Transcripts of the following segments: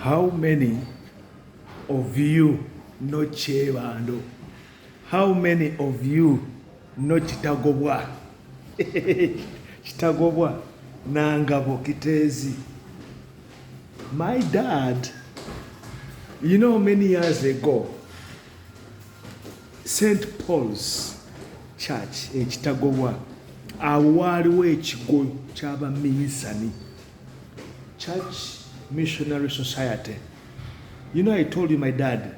How many of you no Chebando? How many of you no Kitagobwa? Kitagobwa Nangabo Kitezi. My dad, you know, many years ago, St. Paul's Church in Kitagobwa, awo waaliwo ekigo ky'abaminsani Church Missionary Society. You know I told you my dad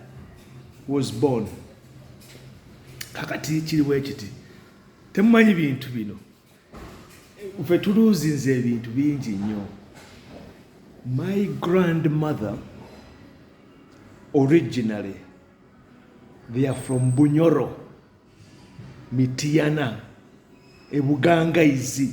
was born. Kakati kiri wekiti. Temumanyi bintu bino. Ufe tuluzi nze bintu bingi nyo. My grandmother originally they are from Bunyoro, Mitiana, Ebuganga izi.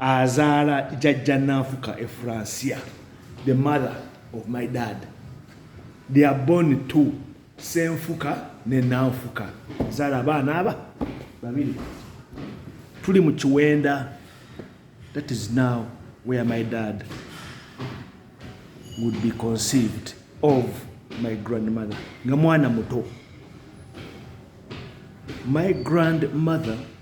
azaala jajja nanfuka efransia the mother of my dad they are born two senfuka ne nanfuka zaala abaana aba babiri tuli mu kiwenda that is now where my dad would be conceived of my grandmother nga mwana muto my grandmother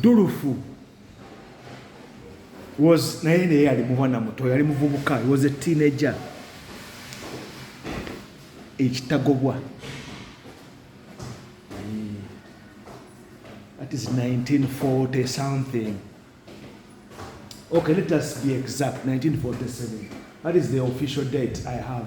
Dulufu was naye naye yali mubwana muto yali muvubuka he was a teenager ekitagobwa that is 1940 something okay let us be exact 1947 that is the official date i have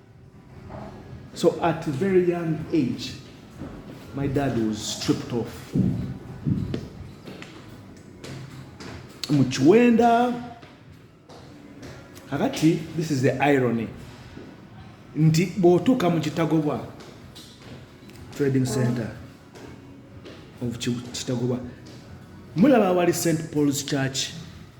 So at a very young age, my dad was stripped off. mu kiwenda kakati this is the irony nti bw'otuuka mu kitagobwa trading center of kitagobwa mulaba awali st paul's church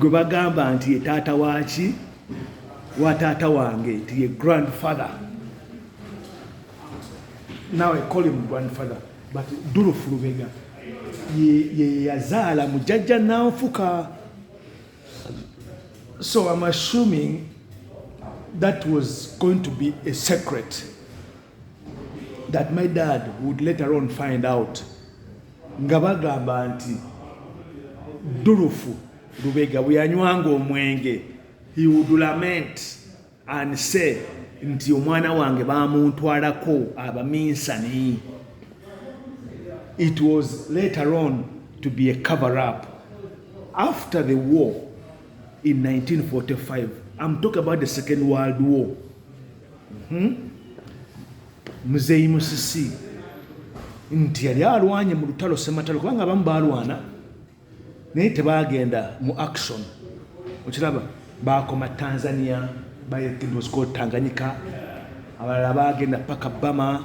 gwe bagamba nti ye taata waki wa taata wange nti ye grandfather nawe colim grandfather but dulufu lubega yeyazaala mujajja nanfuka so im assuming that was going to be a secret that my dad would later on find out nga bagamba nti dulufu lubega bweyanywanga omwenge he would lament and say nti omwana wange bamuntwalako abaminsani it was later on to be a cover up after the war in 1945 i'm talking about the second world war Hmm? muzeeyi musisi nti yali alwanye mu lutalo sematalo kubanga abamu balwana naye tebagenda mu action okiraba bakoma tanzania bayekidwasko tanganyika abalala bagenda paka bama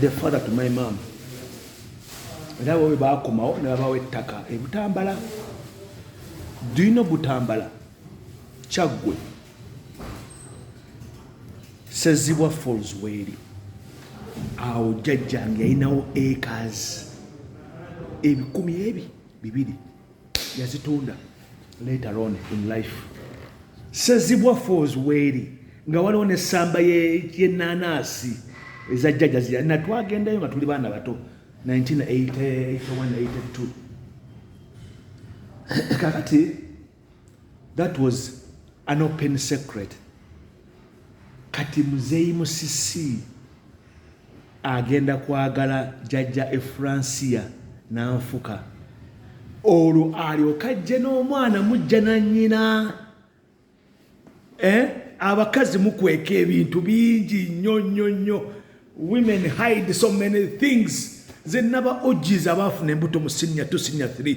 the father to my mom era bwe baakomawo ne babawo ettaka e butambala do you know butambala kyaggwe sezibwa falls weeri awo jjajjange yalinawo acres ebikumi ebi bibiri yazitunda later on in life sezibwa falls weeri nga waliwo nesamba yenanaasi eza jjaja zira natwagendayo nga tuli baana bato 1981 82 kakati that was an open secret Kati muzeyi musisi agenda kwagala jajja efransia nanfuka olwo alyoke ajje n'omwana mujja na nnyina eh? abakazi mukweka ebintu bingi nnyo nnyo nnyo women hide so many things zenaba ogiza baafuna embuto mu sinya tu sinya 3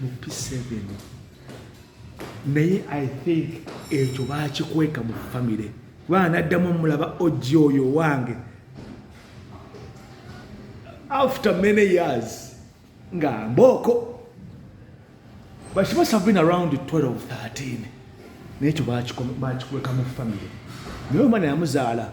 mu p7 naye i think ekyo bakikweka mu famire kubanga naddamu omulaba oji oyo owange after many years nga mbooko but she must have been around 12 13 nekyo bakikweka mu famire naye omwana yamuzaala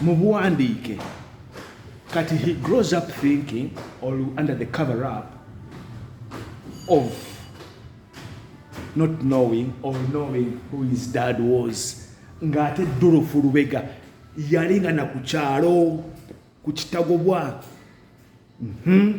mubuwandiike kati he grows up thinking or under the cover up of not knowing or knowing who his dad was ng'ate dolofu lubega yali nga na ku kyalo ku kitagobwa mhm.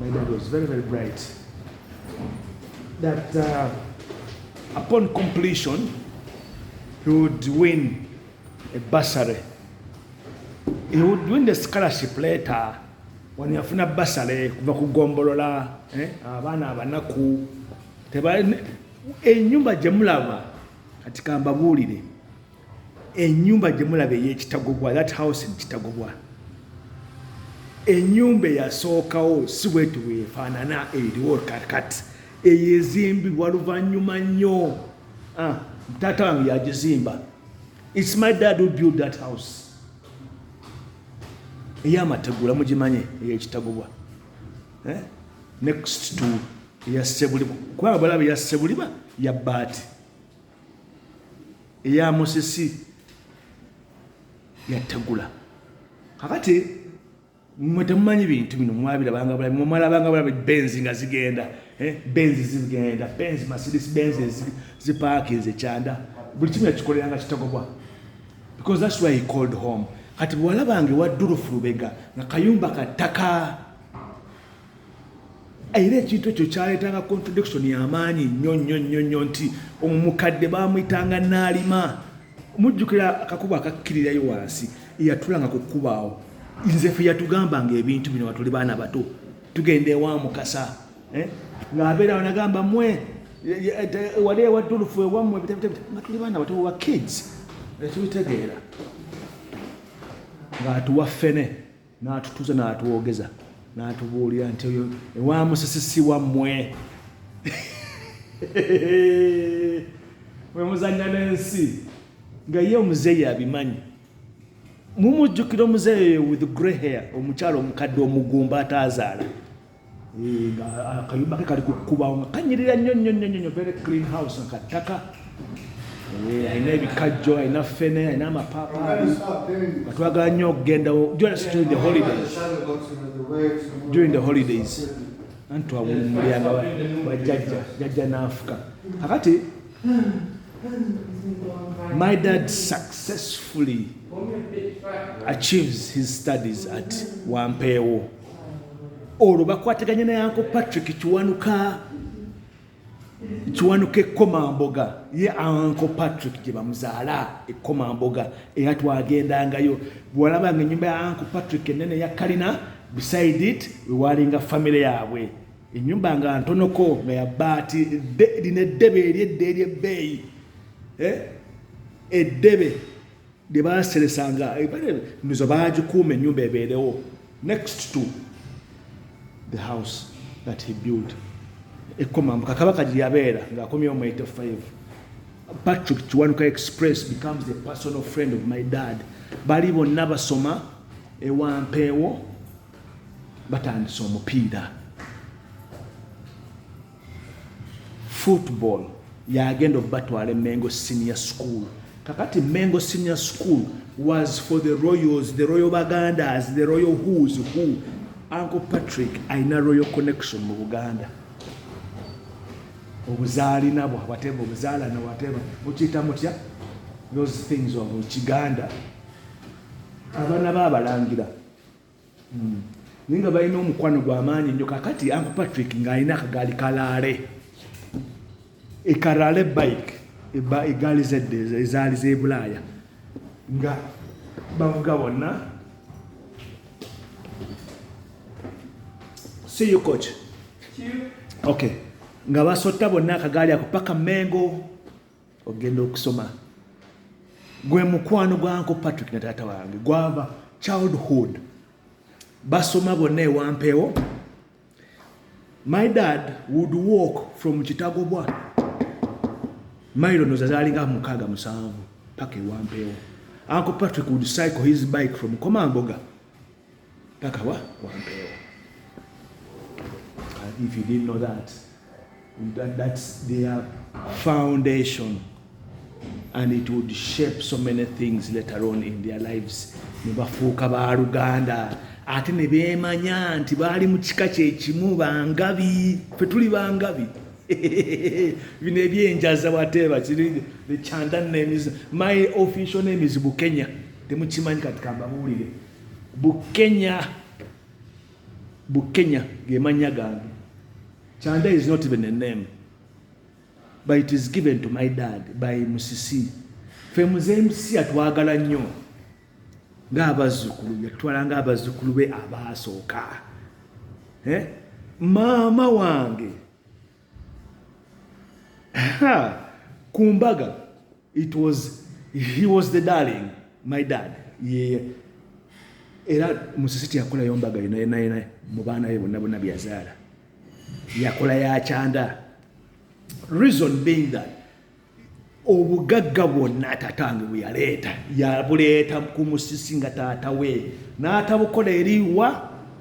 My dad was very, very bright. That uh, upon completion, he would win a bursary. He would win the scholarship later when yafuna bursary kuva ku gombolola eh? abaana abanaku enyumba gye mulaba kati kambabuulire enyumba gyemulaba eyekitagobwa that house in kitagobwa enyumba eyasookawo si bweti wefaanana eriwo kakat eyo ezimbibwa luvanyuma nnyo ah, taata wange yagizimba its my dad who build that house eyamategula mugimanye eyekitagobwa eh? next to eyasebuliba kubanga balaba eyasebuliba yabaati eya musisi yategula kakati mwe temumanyi bintu bino mwabirabanga bulabi mwe mwalabanga bulabi benzi nga zigenda eh, benzi zigenda benzi masidis benzi zipaakinze ekyanda buli kimu yakikoleranga kitagobwa because thats why he called home kati bwewalabanga ewa durufu lubega nga kayumba ka ttaka era ekintu ekyo kyaleetanga contradiction yamaanyi nnyo nnyo nnyo nnyo nti omumukadde baamuyitanga naalima mujjukira akakuba akakkirirayo wansi eyatulanga ku kkubaawo nze fe yatugambanga ebintu bino watuli baana bato tugenda ewa mukasa eh? ng'abeerawo nagamba mwe wali ewa dulufu ewammwe nga tuli baana bato wa kids etubitegeera ng'atuwa ffene n'atutuuza n'atwogeza n'atubuulira nti oyo ewa musisi si wammwe mwe muzannya n'ensi nga ye omuzeeyi abimanyi mumujjukira omuzeeyi with grey hair omukyalo omukadde omugumba ataazaala Eh, akayumba ke kali kukubawo nga kanyirira nnyo nnyo nnyo nnyo very clean house nga kattaka eh, alina ebikajjo alina fene alina amapaapaali nga twagala nnyo okugendawo just during the holidays during the holidays anti twawumulyanga wajjajja jajja naafuka kakati my dad successfully achieves his studies at wampeewo olwo bakwataganye ne anko patrick kiwanuka kiwanuka ekkomamboga ye anko patrick gye bamuzaala ekkomamboga era twagendangayo bwewalabanga ennyumba ya anko patrick enene ya kalina beside it wewaalinga famire yaabwe ennyumba nga ntonoko nga yabaati lino eddebe eryedde eryebbeeyi eh? eddebe gye baaseresanga emizo baagikuuma ennyumba ebeerewo next to the house that he built ekkomambuka kabaka gye yabeera ng'akomyewo mu 85 patrick kiwanuka express becomes the personal friend of my dad bali bonna basoma ewampeewo batandise omupiira football yagenda obatwala emengo senior school kakati mengo senior school was for the royals the royal bagandas the royal whos who uncle patrick alina royal connection mu buganda obuzaalina bwa wateva obuzaalana wateva mukiyita mutya those things of kiganda abaana baabalangira mm. naye nga balina omukwano gwamaanyi nnyo kakati anku patrick ng'alina akagaali kalaale ekalaale bike egaali zedde ezaali z'ebulaaya nga bavuga bonna see you coach okay nga basotta bonna akagaali ako paka mengo ogenda okusoma gwe mukwano gwanko patrick ne taata wange gwava childhood basoma bonna ewampeewo my dad would walk from kitagobwa mailo noza zalinga mukaaga musanvu paka ewampeewo anko patrick would cycle his bike from komamboga paka wa wampeewo uh, if you didn't know that that that's their foundation and it would shape so many things later on in their lives nebafuuka ba luganda ate ne beemanya nti baali mu kika kyekimu bangabi fe tuli bangabi bino ebyenjaza wateeba kiri kyanda nemiz my official name is bukenya temukimanyi kati kambabuulire bukenya bukenya gemanya gange chanda is not even a name but it is given to my dad by musisi fe muze msi atwagala nnyo ng'abazzukulu yatwala ng'abazzukulu be abaasooka eh? maama wange ku mbaga it was he was the darling my dad yeah. era musisi teyakola yombaga yonayonayona mu baana be bonna bonna byazaala yakola yakyanda reason being that obugagga bwonna tatange bweyaleeta yabuleeta ku musisi nga taata we n'atabukola eriwa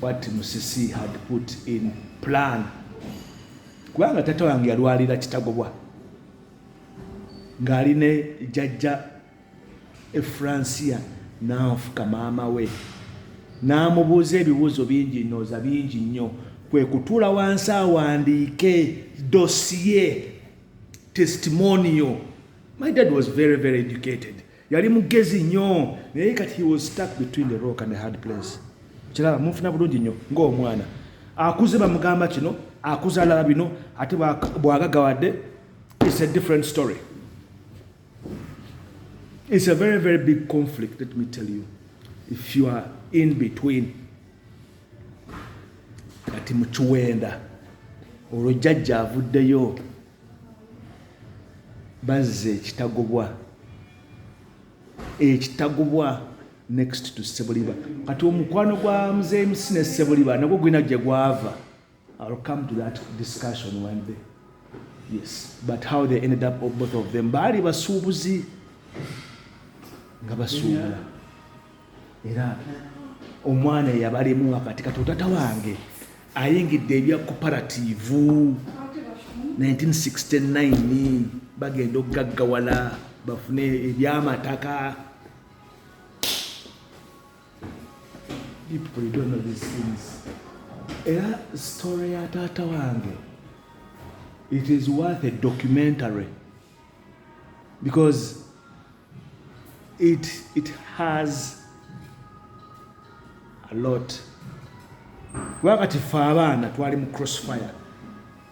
what Musisi had put in plan kubanga tata wange yalwalira kitagobwa ng'ali ne jajja efransia nanfuka maama we n'amubuuza ebibuuzo bingi nooza bingi nnyo kwe kutuula wansi awandiike dosiye testimonio my dad was very very educated yali mugezi nnyo naye kati he was stuck between the rock and the hard place kiraba mufuna bulungi nnyo ng'omwana akuze bamugamba kino akuze alaba bino ate bwagagawadde it's a different story it's a very very big conflict let me tell you if you are in between kati mukiwenda olwo jjajja avuddeyo bazza ekitagobwa ekitagobwa next to sebuliba kati omukwano gwa mzmc ne sebuliba nagwo gulina gye gwava ill come to that discussion one day yes but how they ended up both of them baali basuubuzi nga basuubula era omwana eyabalimu wakati kati otata wange ayingidde ebya koparativu 1969 bagenda okugaggawala bafune ebyamataka era story ya taata wange it is worth a documentary because it, it has a lot wakati fe abaana twali mu crossfire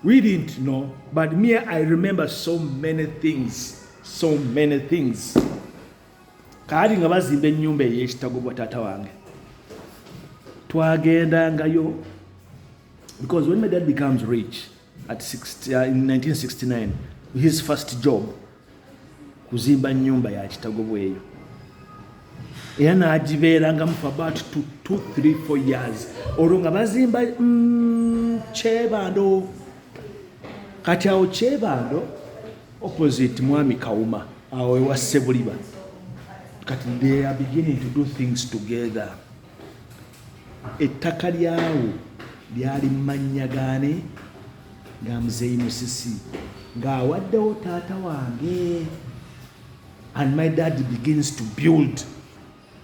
we didn't know but me i remember so many things so many things kaali nga bazimba ennyumba ey'ekitago bwa taata wange twagendangayo because when my dad becomes rich At 60, uh, in 1969 his first job kuzimba nyumba ya kitago bweyo era nagibeerangamu for about 234 years olwo nga bazimba mm, kyebando kati awo kyebando opposite mwami kawuma awo ewa sebuliba kati they are beginning to do things together Ettaka lyawo lyali mu mannya gaani? Ga Muzeeyi Musisi ng'awaddewo taata wange and my dad begins to build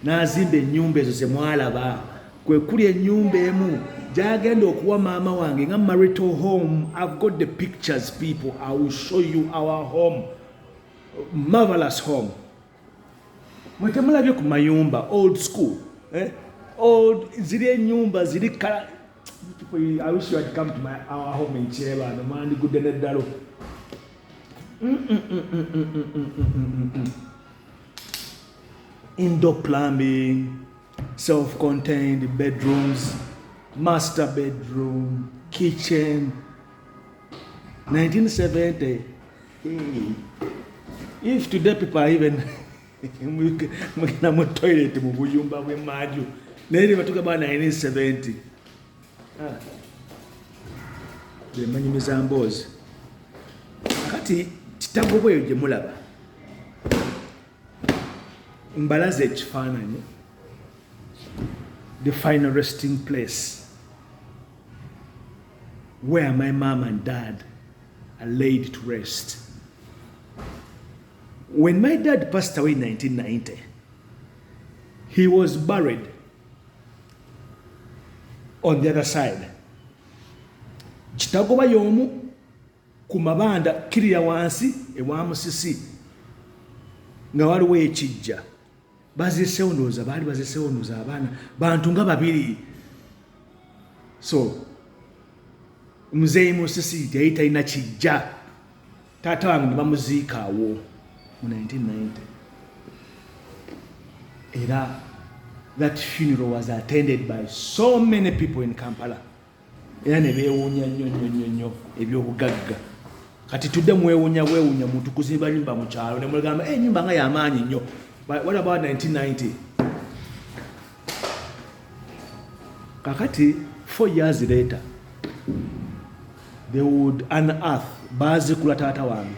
n'azimba ennyumba ezo ze mwalaba kwe kuli ennyumba emu gyagenda okuwa maama wange nga marital home i've got the pictures people i will show you our home marvelous home mwe temulabye ku mayumba old school eh? old ziri enyumba ziri kala I wish you had come to my our home in Cheba no mandi good ne dalo indoor plumbing self contained bedrooms master bedroom kitchen 1970 If today people are even mugenda mu toilet mu buyumba bw'emmanju naye ne batuuka bana 1970 ah. bemanyi mizamboozi kati kitabo bweyo gye mulaba mbalaza ekifaananyi the final resting place where my mom and dad are laid to rest. When my dad passed away in 1990, he was buried on the other side. Kitagoba yomu kumabanda kiri ya wansi ewa musisi nga waliwo ekijja bazisewo ndowooza baali bazisewo ndowooza abaana bantu nga babiri so muzeeyi musisi yali talina kijja taata wange ne bamuziika awo mu 1990 era that funeral was attended by so many people in kampala era ne beewuunya nnyo nnyo nnyo nnyo ebyobugagga kati tudde mwewuunya bwewuunya muntu kuzimba nyumba mu kyalo ne mugamba enyumba eh, nga yamaanyi nnyo what about 1990 kakati four years later they would unearth baazikula taata wange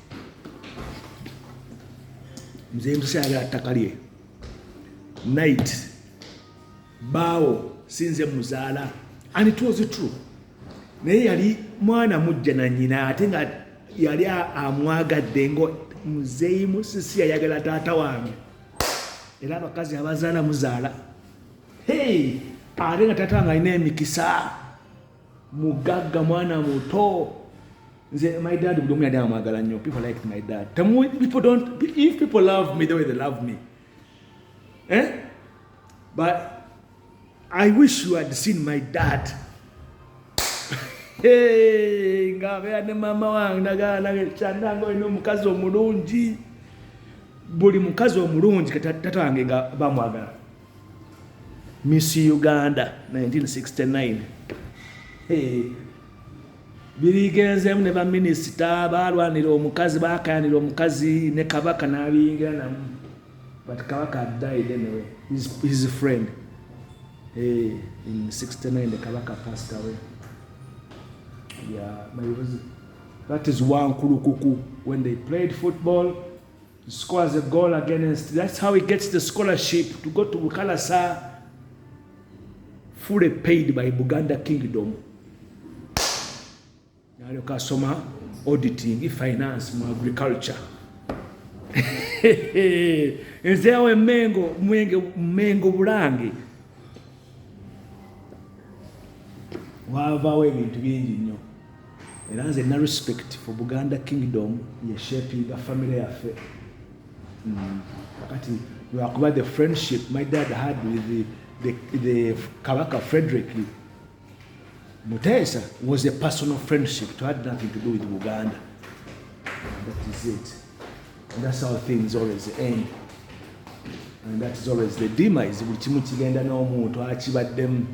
mzee msali atakalie night bawo sinze muzala and it was true naye yali mwana mujja na nyina ate nga yali amwagadde ngo muzeeyi musisi yayagala taata wange era abakazi abazaala muzaala hey ate nga taata wange alina emikisa mugagga mwana muto nze my dad buli omu yali amwagala nnyo people liked my dad temuwe people don't if people love me the way they love me eh? but i wish you had seen my dad ngabeera ne maama wange nagaanage kyandange olina omukazi omulungi buli mukazi omulungi kati tata wange nga bamwagala Miss Uganda 1969 hey. birigenzeemu ne baminisita baalwanira omukazi baakayanira omukazi ne kabaka n'abiyingira namu but kabaka died anyway his, his friend hey, in 69 the kabaka passed away yeah, my, that is wankulukuku when they played football scores a goal against. That's how he gets the scholarship to go to Bukalasa, fully paid by Buganda Kingdom. Nalyo kasoma auditing, finance mu agriculture. Nze awo emengo mwenge mengo bulange wavaawo ebintu bingi nnyo. era nze na respect for buganda kingdom yeshapinga family yaffe mm. kakati lwakuba the friendship my dad had with the, the, the kabaka frederick muteesa was a personal friendship to had nothing to do with buganda that is it and that's how things always end and that is always the demise buli kimu kigenda n'omuntu akibaddemu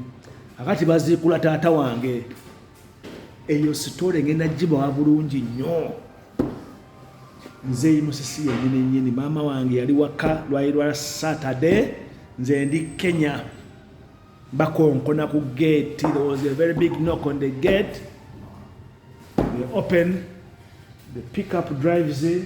akati baziikula taata wange eyo sitole ngenda gibawa bulungi nnyo nzeeyi musisi yenyini nyini maama wange yali waka lwali lwa satade nze ndi kenya bakonkona ku gate there was a very big knock on the gate they open the pickup drives in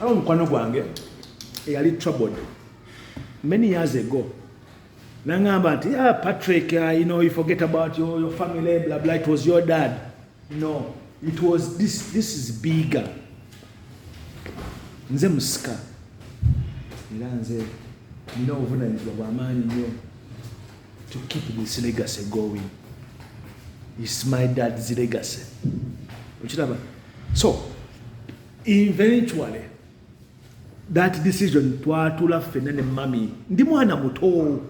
waliwo mukwano gwange eyali troubled many years ago nangamba nti ah, patrick uh, you know, you forget about your, your family blah, blah, it was your dad no it was this, this is bigger nze musika era nze nina obuvunanyizibwa bwamaanyi nnyo to keep this legacy going is my dad's legacy okiraba so eventually that decision twatula ffenna ne mami ndi mwana muto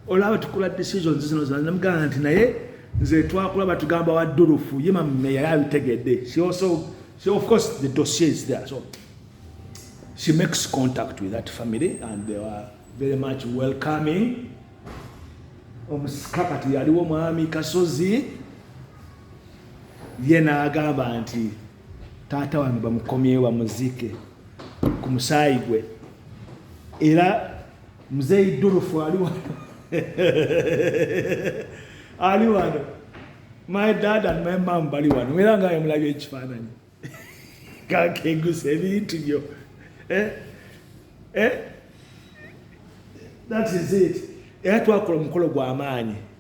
olaba tukola decisions zino zanamugamba nti naye nze twakula batugamba wa dulufu ye mami yali abitegedde she also she of course the dossier is there so she makes contact with that family and they were very much welcoming omusika kati yaliwo mwami kasozi ye n'agamba nti taata wange bamukomyewo bamuziike ku musaayi gwe era muzeeyi durufu ali wano ali wano my dad and my mom bali wano era nga yamulabye ekifaananyi kakegusa ebintu byo eh? Eh? that is it era twakola omukolo gw'amaanyi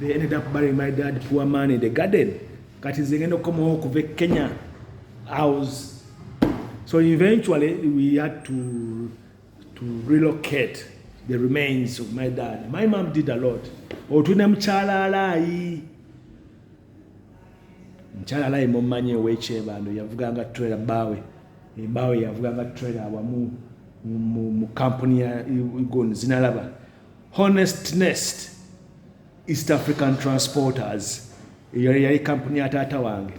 they ended up burying my dad poor man in the garden kati nze ngenda okukomawo okuva e kenya i was so eventually we had to to relocate the remains of my dad my mom did a lot otune mukyala alaayi mukyala alaayi mumanyi owekyebando yavuganga trailer baawe embaawe yavuganga trailer awamu mu kampuni ya igon zinalaba Honestnest East African Transporters eyo yali kampuni ya taata wange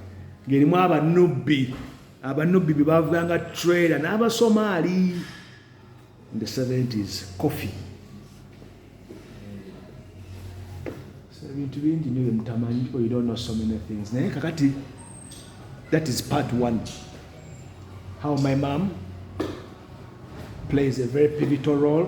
ng'erimu abanubbi abanubbi be baavuganga trailer n'abasomaali in the 70s coffee ebintu bingi nyo byemutamanyi people you don't know so many things naye kakati that is part one how my mom plays a very pivotal role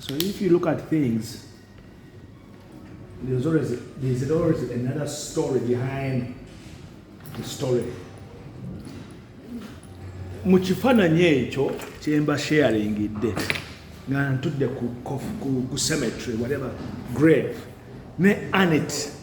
So if you look at things, there's always, there's always another story behind the story. mu kifaananyi ekyo kyemba sharingidde nga ntudde ku cemetery whatever grave ne anet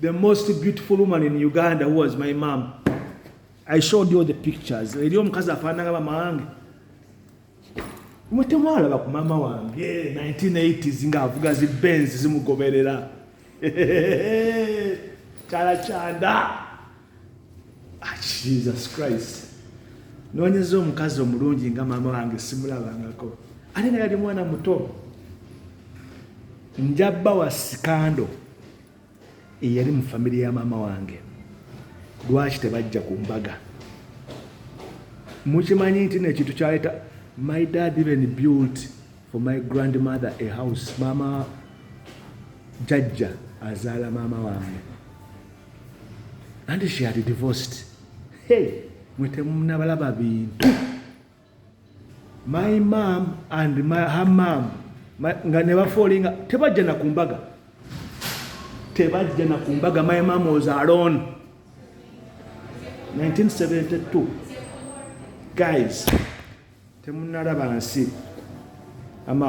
The most beautiful woman in Uganda who was my mom. I showed you the pictures. Eri omukazi afaananga mama wange. Mwe temwalaba ku mama wange 1980s ng'avuga zi Benz zimugoberera. Kyala kyanda. ah, jesus christ nonyeza omukazi omulungi nga maama wange simulabangako ate nga yali mwana muto njabba wa sikando eyali mu famire ya maama wange lwaki tebajja ku mbaga mukimanyi nti nekintu kyaleeta my dad even built for my grandmother a house maama jajja azaala maama wange and she had divorced hey mwe temunabalaba bintu my mom and my, her mom nga nebafoolinga tebajja na ku mbaga tebajja na ku mbaga my mom was alone 1972 guys temunalaba nsi ama